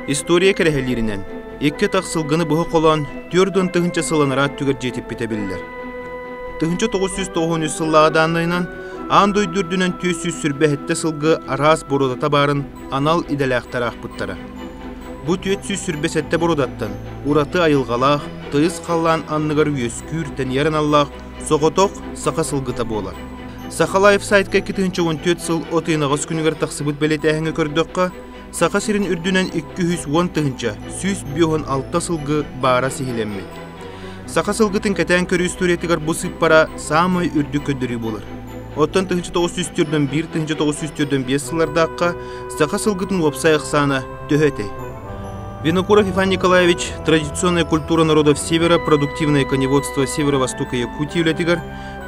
История кэрэһэлииринэн икки атах сылгыны быһа холоон түөрт уон тыһыынча сылланара өттүгэр дьиэтиппитэ биллэр. 1993 сыллааҕы дааннайынан аан дойду үрдүнэн түөс сүүс сүрбэһиттэ сылгы араас бородата баарын анал идэлээхтэр аахпыттара. Бу түөт сүүс сүрбэ сэттэ бородаттан ураты айылҕалаах, тыйыс халлаан анныгар үөскүүр тэнийэр аналлаах соҕотох саха сылгыта буолар. Саха Лайфсайтка икки тыһыынча он түөрт сыл от ыйнаҕас күнүгэр тахсыбыт бэлиэтээһиҥҥэ көрдөххө, Саха сирин үрдүнэн 200 уон тыһыынча сүүс биэс уон алта сылгы баара сиһилэммит. Саха сылгытын кэтээн көрүү историятыгар бу сыыппара саамай үрдүк көрдөрүү буолар. Оттон 1904-1905 сыллардаахха саха сылгытын уопсай ахсаана төһө этэй? Винокуров Иван Николаевич «Традиционная культура народов Севера, продуктивное коневодство Северо-Востока Якутии» үлэтигэр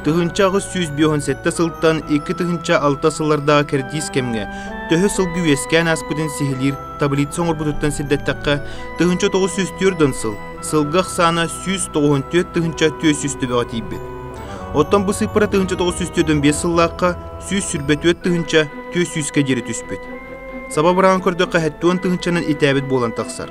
Тыһыынча аҕыс сүүс биоһун сэттэ сылтан икки тыһыынча алта сыллардағы кэрдиис кэмгэ төһө сылгы үөскээн ааспытын сиһилиир таблица оҥорбутуттан сирдэттэххэ тыһыынча тоҕус сүүс түөрдөн сыл сылгы ахсаана сүүс тоҕуһун түөрт тыһыынча түөс үс төбөҕө тиийбит. Оттон бу сыыппара тыһыынча тоҕус сүүс түөрдөн биэс сыллаахха сүүс сүрбэ түөрт тыһыынча түөс сүүскэ диэри түспүт. Саба быраҕан көрдөххө хэттуон тыһыынчанан итээбит буолан тахсар.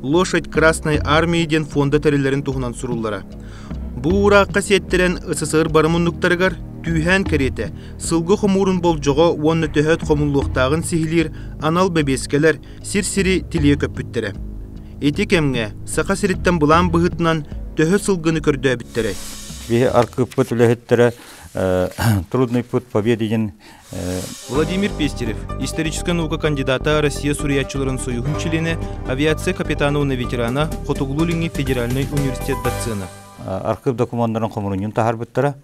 Лошадь Красной Армии диэн фонда тэриллэрин туһунан суруллара. Бу уураахха сиэттэрэн СССР бары муннуктарыгар түүһээн кэриэтэ сылгы хомуурун болдьоҕо уонна төһөөт хомуллуохтааҕын сиһилиир анал бэбиэскэлэр сир-сири тилийэ көппүттэрэ. Ити кэмҥэ Саха сириттэн былаан быһыытынан төһө сылгыны көрдөөбүттэрэй? Биһи аркыыппыт үлэһиттэрэ «Трудный путь победы» диэн Владимир Пестерев, историческай наука кандидата Россия суруйааччыларын союһун чилиэнэ, авиация капитануна ветерана, Хотугулуу-Илиҥҥи федеральнай университет доцена. Архыып докумуоннарын хомурунньун таһаарбыттара.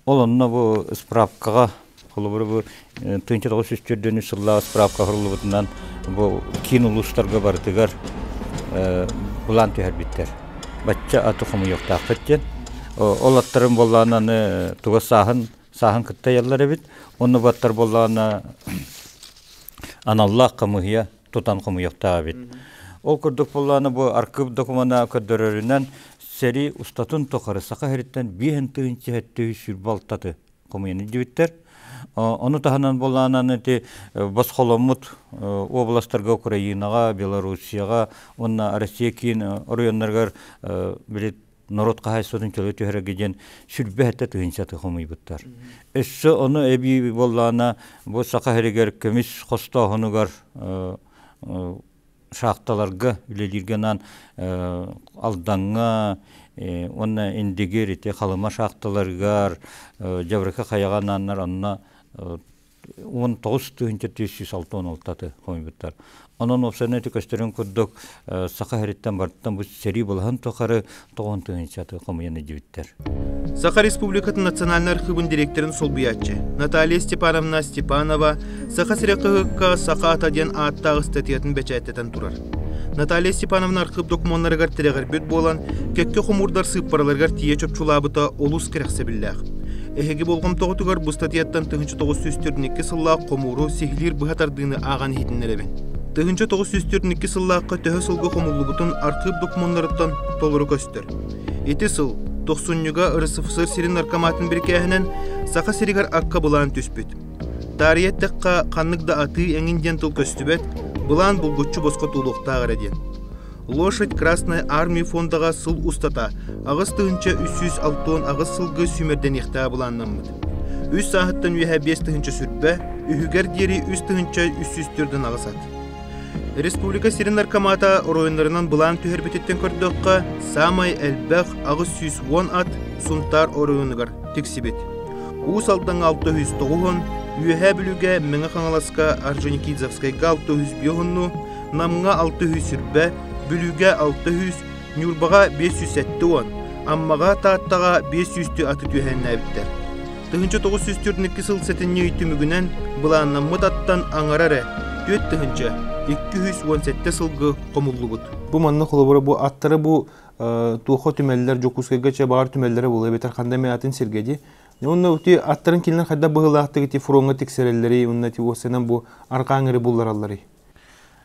Ол онно бу справкаҕа холобур бу 1940 сыллааҕы справка құрылыбытынан бу киин улуустарга барытыгар былаан түһэрбиттэр. Бачча аты хомуйуохтаахпыт диэн. Ол аттарын боллаан аны туга сааһын сааһын кытта ыйаллар эбит онно баттар буоллаҕына аналлаах хамыыһыйа тутан хомуйуохтаах эбит ол курдук буоллаҕына бу архыып докумуона көрдөрөрүнэн сэрии устатын тухары саха сириттэн биэһин тыһын чэһэттөһүү сүр балтаты хомуйан диэбиттэр ону таһынан буоллаҕына ити босхоломмут областарга украинаҕа белоруссияҕа уонна россия киин оройуоннарыгар били норуот хаһайсатын чөлө түһэрэргэ диэн сүлбэ этэ тыһынчаты хомуйбуттар. Өссө ону эбии боллаана бу саха херигер көмүс хостооһунугар шахталарга үлелирге нан алданга онна индигир ити халыма шахталаргар жабрыка хаяга наннар онна уон тоҕус тыһыынча сүүс сүүс алта уон алтаты хомуйбуттар. Онон офсернети көстөрүн курдук саха хэриттэн барыттан бу сэрии былаһын тухары тоҕон тыһыынчаты хомуйан идьиттэр. Саха Республикатын национальнай архыыбын директорын солбуйааччы Наталья Степановна Степанова Саха сирэ кыһыкка саха ата диэн ааттаах статуятын бэчээттэтэн турар. Наталья Степановна архыып докумуоннарыгар тирэҕирбит буолан, кэккэ хомуурдар сыыппараларыгар тиийэ чопчулаабыта олус кэрэхсэбиллээх. Эһиги болҕомтоҕутугар бу статьяттан тыһыынча тоҕус сүүс төрүн икки сыллаах хомууру сиһилиир быһа тардыыны ааҕан иһитиннэрэбин. Тыһыынча тоҕус сүүс төрүн икки сыллаахха төһө сылга хомуллубутун архыып докумуоннарыттан толору көстөр. Ити сыл тохсунньуга РСФСР сирин наркоматын бирикээһинэн Саха сиригэр акка былаан түспүт. Таарыйа эттэххэ, ханнык да атыы эҥин диэн тыл көстүбэт, былаан булгуччу босхо туолуохтаах эрэ диэн. Лошадь Красной Армии фондаҕа сыл устата аҕыс тыһыынча үс сүүс алтыон аҕыс сылга сүүмэрдэниэхтээх былааннаммыт. Үс сааһыттан үөһэ биэс тыһыынча сүрбэ, үһүгэр диэри үс тыһыынча үс сүүс төрдөн аҕыс ат. Республика сирин наркомата оройуннарынан былаан түһэрбититтэн көрдөххө, саамай элбэх аҕыс сүүс уон ат Сунтаар оройуонугар тиксибит. Уус Алдаҥа 609, Үөһээ Бүлүүгэ Мэҥэ Хаҥаласка Орджоникидзевскайга 602, Намҥа 609, Бүлүүгэ 600, Ньурбаҕа 507 уон, Аммаҕа, Тааттаҕа 503 аты түһээннээбиттэр. Тыһыынча тоҕус сүүс төрдүннэки сыл сэтинньи ый түмүгүнэн былааннаммыт аттан аҥара эрэ түөрт тыһыынча, икки үс уон сэттэ сылга хомуллубут. Бу манна холобура бу аттары бу туохха түмэллэр Дьокуускайга чэ баҕар түмэллэрэ буолуо эбэтэр ханна эмэ атын сиргэ дии уонна ити аттарын кинилэр хайдах быһыылаахтык ити фроҥҥа тиксэрэллэрий уонна ити уоссанан бу арҕааҥ эрэ булларалларый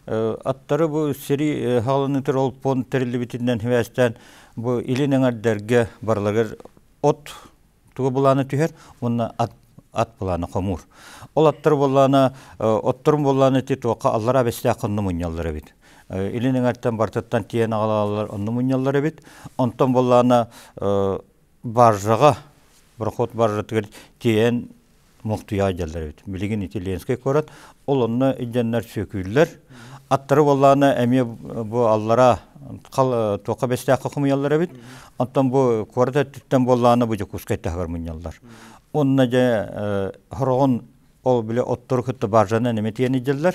аттары бу сири хаалыныытыр ол пон тэриллибитинэн хвээстээн бу илин эҥэрдэргэ барылагар от тугу былаана түһэр уонна ат ат былаана хомуур. Ол аттар боллаана отторун боллаана ти туохха аллара бэстээх онну мунньаллар эбит. Илин эҥэртэн бартыттан тиен агалалар онну мунньаллар эбит. Онтон боллаана баржаға, проход баржатыгар тиен Мухтуяа дьаллар эбит. Билигин ити Ленскэй куорат, ол онно идьаннар сүөкүүллэр. Аттары боллаана эмиэ бу аллара хал туохха бэстээххэ хумуйаллар эбит. Оттон бу куорат өттүттэн боллаана бу Дьокуускай таһыгар мунньаллар. Онна дьэ хороҕон ол бile оттору кытта баржаны неме тиэн идьаллар.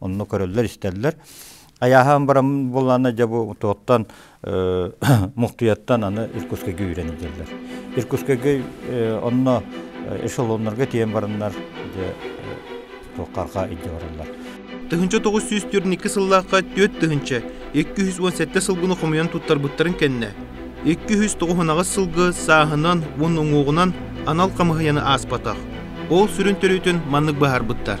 Онно көрөллөр-истэллэр. Айааһаан баран буоллаана дьэ бу туоттан мухтуяттан аны Иркутскайга үйрэнилдилер. Иркутскайга онно эшелоннарга тиийэн бараннар дьэ туоххарга идде бараллар. Тыһынча тоғыз сүүс төрт сыллаахха түөрт тыһынча екі жүз он сэттэ сылгыны хомуйан туттарбыттарын кэннэ екі жүз тоғызынаҕыс сылгы сааһынан уон уҥуоҕунан анал хамыһыйаны ааспатах. Ол сүрүн төрүтүн маннык быһаарбыттар.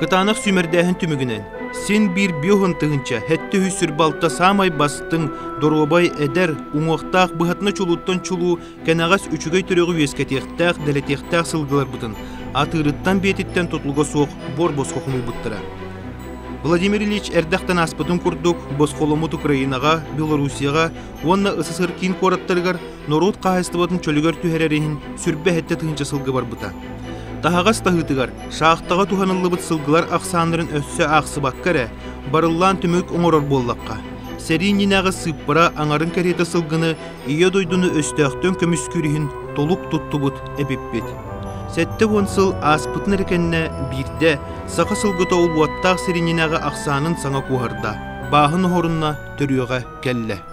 Кытаанах сүүмэрдээһин түмүгүнэн син биир биоһун тыһыынча сэттэ үс сүр балта саамай бастыҥ доруобай эдэр уҥуохтаах быһатына чулууттан чулуу кэнэҕэс үчүгэй төрөҕү үөскэтиэхтээх дэлэтиэхтээх сылгыларбытын атыырыттан биэтиттэн тутулуга суох буор босхо хомуйбуттара. Владимир Ильич эрдэхтэн ааспытын курдук босхоломмут Украинаҕа, Белоруссияҕа уонна СССР киин куораттарыгар норуот хаһаайыстыбатын чөлүгэр түһэрэр иһин сүрбэ эһэтэ тыһыынча сылга барбыта. Таһаҕас таһыытыгар шахтаҕа туһаныллыбыт сылгылар ахсааннарын өссө аахсыбакка эрэ, барыллаан түмүк оҥорор буоллахха, сэрии иннинээҕи сыыппара аҥарын кэриэтэ сылгыны Ийэ дойдуну өстөөхтөн көмүскүүр иһин толук туттубут эпиппит. Сэттэ уон сыл ааспытын эрэ кэннэ биирдэ саха сылгыта убуоттаах сир иннинээҕи ахсаанын саҥа куоһарда, бааһын оһорунна төрүөҕэ кэллэ.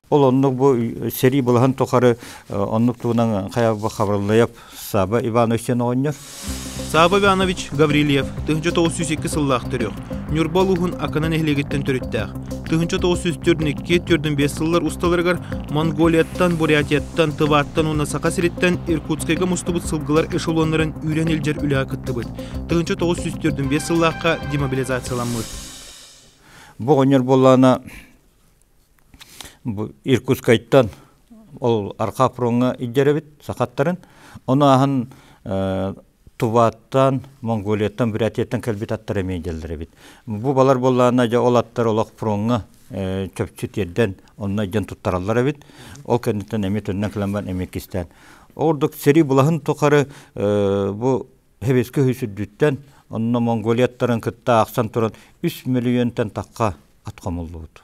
Ол оннук бу сэрии былаһын тухары оннук тугунан хайабы хабырыллайап Саба Ивановичтен оҕонньор. Саба Иванович Гаврильев, тыһынча тоғыз жүз екі сыллаах төрүөх, Ньурба улууһун Акана нэһилиэгиттэн төрүттээх. Тыһынча тоғыз жүз төрдүн икки төрдүн бес сыллар усталарыгар Монголияттан, Бурятияттан, Тываттан уонна Саха сириттэн Иркутскайга мустубут сылгылар эшелоннарын үүрэн илдьэр үлэҕэ кыттыбыт. Тыһынча тоғыз жүз төрдүн бес сыллаахха демобилизацияламмыт. Бу оҕонньор буоллаана Иркутскайтан ол Арха фроҥҥа илдьэрэбит сахаттарын. Ону аһан Тубаттан, Монголияттан, Бурятияттан кэлбит аттар эмиэ идэллэр эбит. Бу балар буоллаҕына дьэ ол аттар олох фроҥҥа чопчу тиэрдэн онно илдьэн туттараллар эбит. Ол кэнниттэн эмиэ төннөн кэлэн эмиэ кистээн. Ол ордук сэрии былаһын тухары бу Сэбиэскэй үһүс үрдүттэн онно Монголияттарын кытта ахсан туран үс мөлүйүөнтэн тахха ат хомуллубут.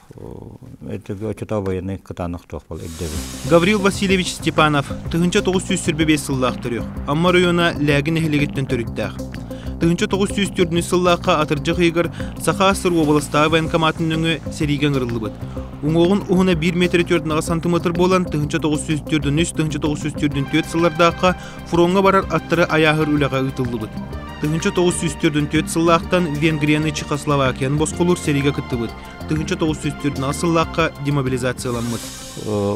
Гаврил Васильевич Степанов тыһыынча тоҕус сүүс сөрбө биэс сыллаах төрүөх Амма оройуона Лээги нэһилиэгиттэн төрүттээх. Тыһыынча тоҕус сүүс төрдүнчү сыллаахха атырдьах ыйыгар Саха СР уобаластааҕы военкоматын нөҥүө сэриигэ ыҥырыллыбыт. Уҥуоҕун уһуна 1 метр төртүнэҕэ сантиметр буолан тыһыынча тоҕус сүүс төрдүн үс тыһыынча тоҕус сүүс төрдүн түөрт сыллардаахха фроҥҥа барар аттары айааһыр үлэҕэ ыытыллыбыт. Тыһыынча тоҕус сүүс төрдүн түөрт сыллаахтан Венгрияны Чехословакияны босхолуур сэриигэ кыттыбыт. тыһынча тоҕус сүүс төрдүн сыллаахха демобилизацияламмыт.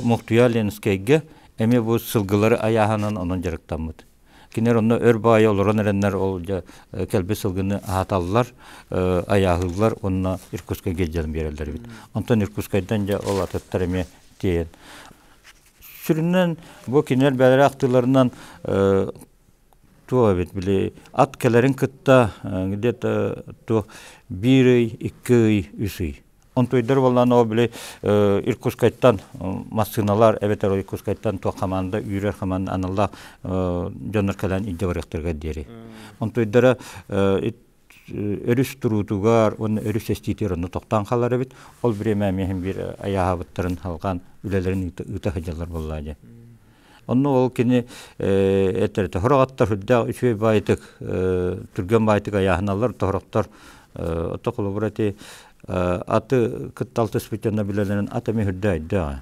Мохтуя Ленскэйгэ эмиэ бу сылгылары айааһынан онон дьарыктаммыт. Кинилэр онно өр баайа олорон эрэннэр ол кэлби сылгыны аһаталлар, айааһыыллар уонна Иркутскайга дьон биэрэллэр эбит. Онтон Иркутскайдан дьэ ол атыттар эмиэ тиэйэн. Сүрүннэн бу кинилэр бэлэри ахтыыларынан Туох эбит били ат кэлэрин кытта где-то туох биир ый, икки ый, үс ый. Онтуйдар буоллаан ол били Иркутскайтан массыыналар эбэтэр Иркутскайтан туох хамаанда үүрэр хамаанда аналлаах дьоннор кэлэн илдьэ барыахтарыгар диэри. Онтуйдара өрүс туруутугар уонна өрүс эстиитигэр онно тохтоон хаалар эбит. Ол время эмиэ иһин биир айааһабыттарын халҕаан үлэлэрин ыыта сылдьаллар буоллаа дии. Онно ол кини этэрэтэ хороҕаттар сүрдээх үчүгэй баайтык, түргэн баайтык айааһыналлар тохороттор отто холобура ти аты кытталтыспыт яна билелерин ата мехүрдэ айдыа.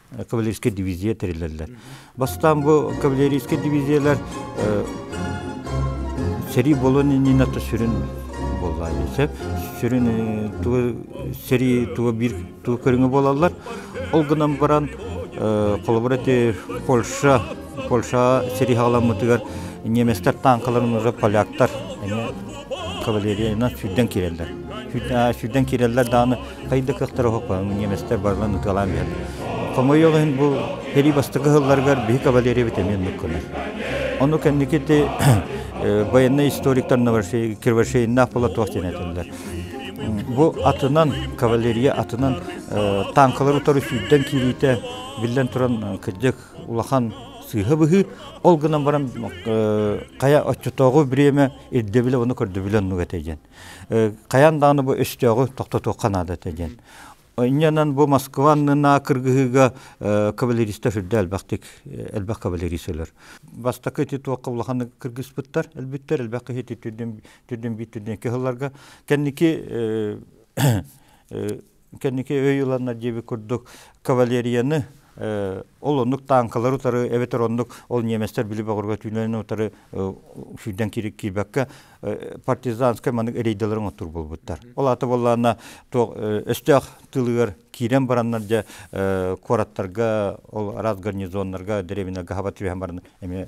кавалерийскай дивизия тэрилэллэр. Бастаан бу кавалерийскай дивизиялар сэрии болон иннинато сүрүн болла сөп сүрүн туга сэрии туга бир туга көрүңө болаллар ол гынан баран коллаборати польша польша сэрии халаммытыгар немецтер танкаларын уже поляктар кавалерияны сүйден киреллер сүйден киреллер дааны Тай да кыахтара уһукпа, немецтэр барылан ытыалаан биһэр. Хомойуох иһин бу херий бастакы сылларыгар биһи кавалериябыт эмиэ оннук гынар. Ону кэнникити военный историктар кирвашейыннаах бола туох диэн этэллэр. Бу атынан, кавалерия атынан танкалары утары сүүрдэн киириитэ биллэн туран кырдьык улахан сыыһа быһыы. Ол гынан баран хайа оччотооҕу время ирдэбилэ оны көрдөбүлэн нуга тейген. Хайан дааны бу өстөөҕү тохтотуохха наада этэ диэн. Инньэнэн бу Москванныына кыргыһыыга кавалеристар үрдэ элбэхтик элбэх кавалерист өлөр. Бастакы ити туохха улаханнык кыргыспыттар өлбүттэр элбэх киһи ити түрдэн түрдэн бит түрдэн кыһылларга кэнники кэнники өй ыланнар диэбит курдук кавалерияны ол оннук таанкалары утары эбэтэр оннук ол немецтэр били бөҕөргө түүннэн утары сүүрдэн киирбэккэ партизанскай маннык рейдаларын оттур буолбуттар ол аты боллаана туох өстөөх тылыгар киирэн бараннар дьэ куораттарга ол араз гарнизоннарга древние гахава түһэн баран эмиэ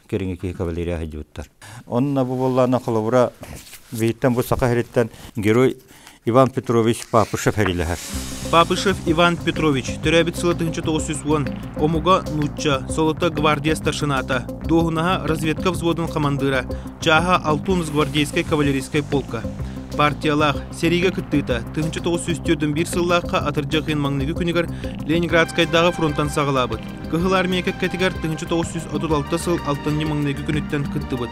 кэриҥи киһи кавалерия сылдьыбыттар. Онно бу буоллаҕына холобура Виттен бу саха сириттэн герой Иван Петрович Папышев эрилэһэр. Папышев Иван Петрович төрөөбүт сыла 1909 омуга нуучча, солото гвардия старшината, дуоһунаһа разведка взводун командира, чааһа алтун с гвардейскай кавалерийскай полка. Партиялаах, сэриигэ кыттыыта 1901 сыллаахха атырдьы кыйын маҥныгы күнүгэр Ленинградскайдааҕы фронтан саҕалаабыт. Кыһыл армия кэккэтигэр 1936 сыл алтынньы маҥнайгы күнүттэн кыттыбыт.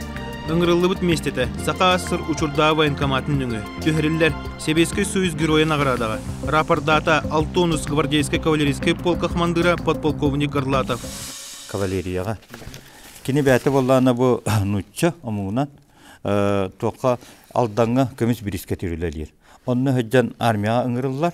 Ыҥырыллыбыт миэстэтэ Саха ас-сыр учурдааҕы военкоматын нөҥүө түһэриллэр Сэбиэскэй Союз Геройа наҕараадаҕа рапордаата Алтонус гвардейскай кавалерийскай полка хамандыыра подполковник Горлатов. Кавалерияҕа кини бэйэтэ буоллаана бу нуучча омугунан туохха Алдаҥҥа көмүс бириискэ түүлэлиир. Онно сыдьан армияҕа ыҥырыллар.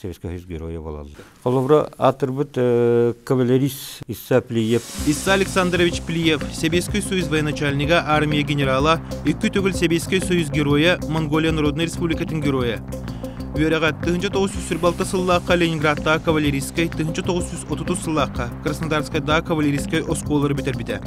Советскай Союз Геройа буолаллар. Холобура, аатырбыт кавалерист Исса Плиев. Исса Александрович Плиев, Советский Союз военачальнига армия генерала, икки төгүл Советский Союз героя, Монголия Народной Республикатын героя. Үөрэҕэ тыһынча тоғыз жүз сүр балта сыллаахха Ленинградтааҕы кавалерийскай, тыһынча тоғыз жүз отутус сыллаахха Краснодарскайдааҕы кавалерийскай оскуолалары бүтэрбитэ.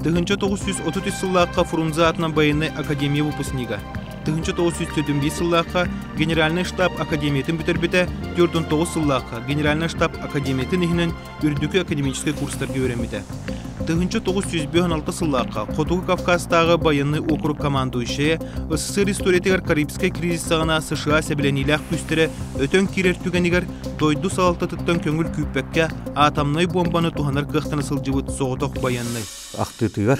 Тыһынча тоғыз жүз отут үс сыллаахха Фрунзе атынан военнай академия выпускнига. тыһынча тоҕус сүүс төрдүн биир сыллаахха Генеральный штаб академиятын бүтэрбитэ, төрдүн тоҕус сыллаахха Генеральный штаб академиятын иһинэн үрдүкү академическай курстарга үөрэммитэ. Тыһынча тоҕус сүүс бөһөн алта сыллаахха Хотугу Кавказтааҕы байыннай округ командующайа СССР историятыгар Карибскай кризис саҕана США сэбилэниилээх күүстэрэ өтөн киирэр түгэнигэр дойду салалтатыттан көҥүл күүппэккэ атомнай буомбаны туһанар кыахтана сылдьыбыт соҕотох байыннай. Ахтыытыгар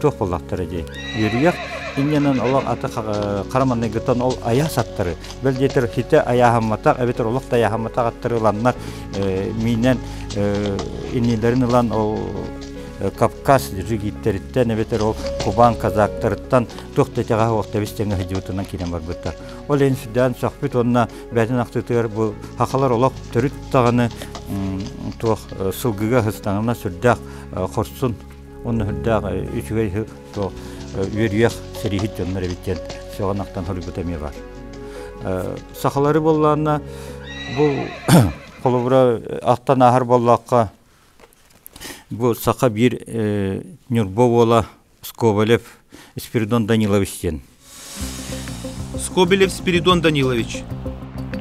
туох буоллахтара дии үөрүйэх иннэнэн олох аты хара манныгыттан ол айаас аттары бэл диэтэр хитэ айааһамматах эбэтэр олох тайааһамматах аттары ыланнар миинэн иннилэрин ылан ол кавказ жигиттериттэн эбэтэр ол кубан казактарыттан туох да тягаһа уох тэбис тэҥэ хыдьыбытынан киинен барбыттар ол эн сүдээн сөхпүт уонна бээтин ахтытыгар бу хахалар олох төрүт даҕаны туох сылгыга хыстаҥына сүрдээх хорсун Онно үрдээх үчүгэй то үөрүйэх сэрииһит дьоннор эбит диэн сөҕөнақтан хоруйбута эмиэ бар. Сахалары боллаанна бу холобура аттан ааһар боллаахха бу саха биир Нюрбо уола Сковалев Спиридон Данилович диэн Скобелев Спиридон Данилович.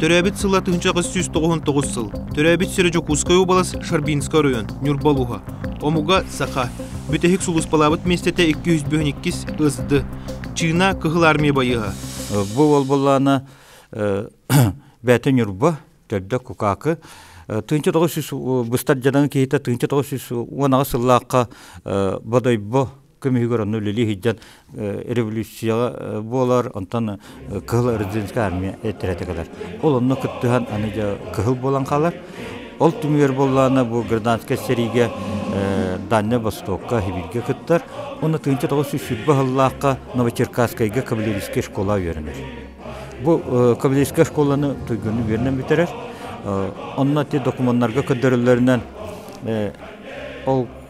Төрөөбүт сыла тыһынчаҕыс сүүс тоҕуһун тоҕус сыл. Төрөөбүт сирэ Дьокуускай уобалас Шарбинскай оройун Ньурбалуһа. Омуга саха. Бүтэһик сулууспалаабыт миэстэтэ икки үс бүтүн иккис ысды. Чыына Кыһыл армия байыаһа. Бу уолбуллаана бэти Ньурба, төрдө Кукаакы. Тыынча тоҕус сүүс быстар дьадаҥы киһитэ тыынча тоҕус сүүс уонаҕа сыллаахха Бодойбо көмүһүгэр онно үлэлии сылдьан революцияҕа буолар онтон кыһыл эрзинская армия эттерете кэлэр ол онно кыттыһан аны дьэ кыһыл буолан хаалар ол түмүгэр буоллаана бу гражданскай сэриигэ дальнай востокка сибиргэ кыттар уонна тыынча тоҕус сүүс сүүрбэ сыллаахха новочеркасскайга кавалерийская школа үөрэнэр бу кавалерийская школаны туйгунну үөрэнэн бүтэрэр онно те документарга көрдөрөллөрүнэн ол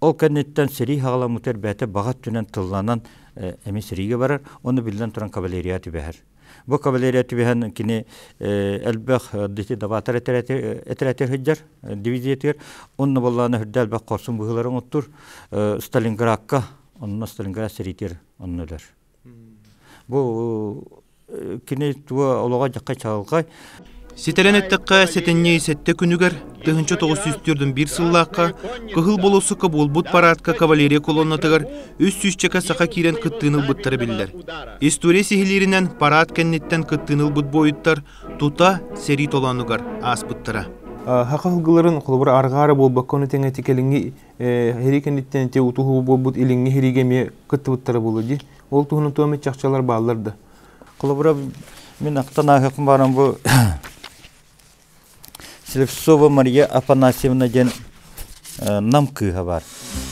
Ол кэнниттэн сэрии хаҕаламмытыгар бэйэтэ баҕа өттүнэн тылланан эмиэ сэриигэ барар, ону биллэн туран кавалерия түбэһэр. Бу кавалерия түбэһэн кини элбэх даватар этэрээти сылдьар дивизиятыгар, онно боллаана үрдэ элбэх хорсун быһыылары оҥоттур, Сталинградка, онно Сталинград сэриитигэр онно өлөр. Бу кини туо олоҕо дьакка чалгай. Ситэрэн эттэххэ, сэтинньи сэттэ күнүгэр тыһынча тоҕус сүүс төрдүн биир сыллаахха Кыһыл болосука буолбут параадка кавалерия колоннатыгар үс сүүсчэкэ саха киирэн кыттыыны ылбыттара биллэр. История сиһилииринэн параад кэнниттэн кыттыыны ылбыт буойуттар тута сэрии толоонугар ааспыттара. Хаха ылгыларын холобур аргаара буолбакканы тэҥэ тикэлиҥи Иһирии кэнниттэн ити утуһуу буолбут илиҥҥи иһириигэ эмиэ кыттыбыттара буолуо дии. Ол туһунан туом чахчылар бааллар да. Холобура, мин ақтан ааһыахым бааран бу Слепцова Мария Афанасьевна диэн нам кыыһа бар.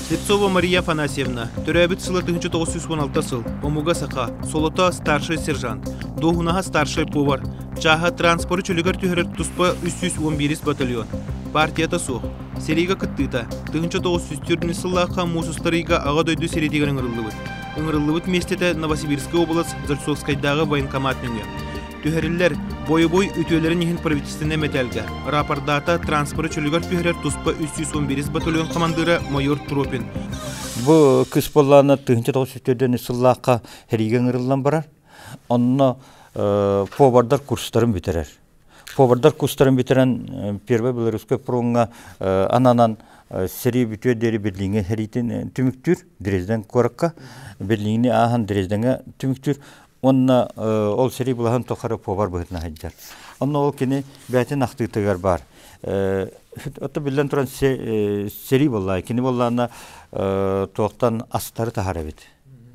Слепцова Мария Афанасьевна, төрөөбүт сыла 1916 сыл, омуга саха, солото старший сержант, дуоһунаһа старший повар, чааһа транспоры чөлүгэр түһэрэр туспа 311 батальон. Партията суох, Сэриигэ кыттыыта тыһыынча тоҕус сүүс түөртүннэ сыллаахха муус устарыйга Аҕа дойду сэрэтиигэр ыҥырыллыбыт. Ыҥырыллыбыт миэстэтэ Новосибирскай уобалас Зарцовскайдааҕы военкомат нөҥүө. Түһэриллэр бойобуой үтүөлэрин иһин правительственнай мэтээлгэ рапордаата транспорт чөлүгэр түһэрэр туспа үс сүүс он биэс батальон хамандыыра майор Тропин. Бу кыс боллаана тыһыынча тоҕус сүүс төрдөн сыллаахха сэриигэ ыҥырыллан барар. Онно повардар курстарын бүтэрэр. Повардар кустарын бүтэрэн Первый Белорусской фроҥҥа ананан сэрии бүтүө диэри Берлиҥҥэ сэриитин түмүктүүр Дрезден куоракка Берлиҥни ааһан Дрездеҥҥэ түмүктүүр уонна ол сэрии былаһын тухары повар быһытына сылдьар. Онно ол кини бээтин ахтыытыгар баар. Отто биллэн туран сэрии боллаа, кини боллаана туохтан астары таһар эбит.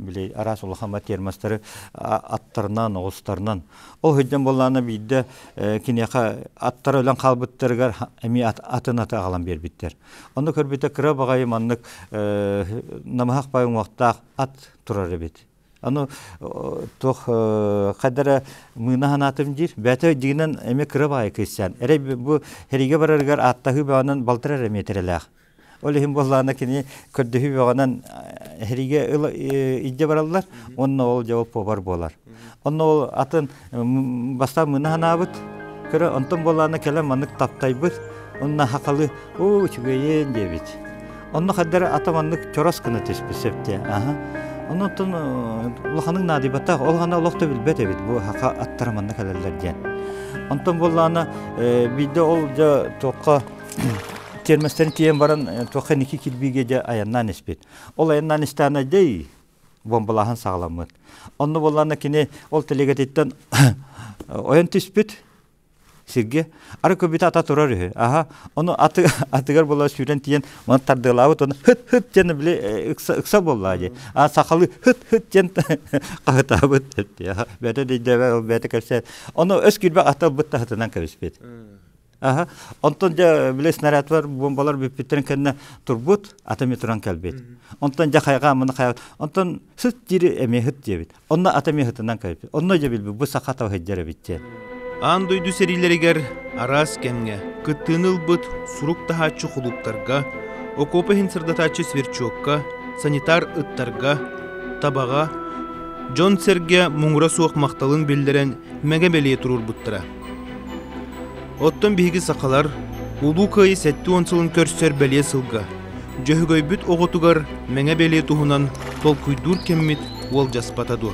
били араас улахама термостары аттарынан оҕустарынан ол сыдьан буоллаана биирдэ киниэхэ аттара өлөн хаалбыттарыгар эми атын аты аҕалан биэрбиттэр онно көрбүтэ кыра баҕайы маннык намыһах бай уҥуохтаах ат турар эбит аны туох хайдара мыына санаатым диир бэйэтэ дьигинэн эми кыра баайы кыыссан эрэй бу эриге барарыгар ааттаһыы бөҕөнөн балтарар эмиэтирэлээх Ол иһин буоллаана кини көрдөһүү бөҕөнөн эһириге илдьэ бараллар уонна ол дьэ повар буолар. Онно ол атын бастаан мына санаабыт көрө онтон буоллаана кэлэн маннык таптайбыт онна хакалы уу үчүгэйин диэбит. Онно хаддары ата маннык чорос гына түспүт сөптө. Аха. Оннуттан улаханын наадыйбатах ол гана олох да билбэт эбит бу хака аттара манна кэлэллэр диэн. Онтон буоллаана биирдэ ол дьэ туохха термостарын тиийэн баран туохха ники кирбиигэ дьэ айаннаан испит ол айаннаан истээнэ дей бомбалааһын саҕаламмыт онно буоллаана кини ол тэлигэтиттэн ойон түспүт сиргэ ары көбүтэ ата турар үһү аха ону аты атыгар була сүүрэн тиийэн маны тардыалаабыт оны хыт хыт диэн били ыкса ыкса буоллаа дии а сахалы хыт хыт диэн хаһытаабыт бэйэтэ дейдебе ол бэйэтэ кэпсээн ону өс кирбэ ата ылбыт таһытынан кэбиспит Аха. Онтон дьэ били снарядвар бомбалар бүппүттэрин кэннэ турбут, ата эмиэ туран кэлбит. Онтон дьэ хайҕа муна хайҕа. Онтон сыт дири эмиэ хыт диэбит. Онно ата эмиэ хытынан кэлбит. Онно дьэ билбит бу саха таба сылдьар эбит диэн. Аан дойду сэриилэригэр араас кэмҥэ кыттыыны ылбыт сурук таһааччы кулууптарга, окуопа иһин сырдатааччы сверчокка, санитар ыттарга, табаҕа, дьон-сэргэ муҥура суох махталын биллэрэн мэҥэ бэлиэ туруорбуттара. Оттон биһиги сахалар Улуу Кыайыы сэттэ уон сылын көрсөр бэлиэ сылга Дьөһөгөйбүт оҕотугар мэҥэ бэлиэ туһунан толкуйдуур кэммит уолдьаспата дуо?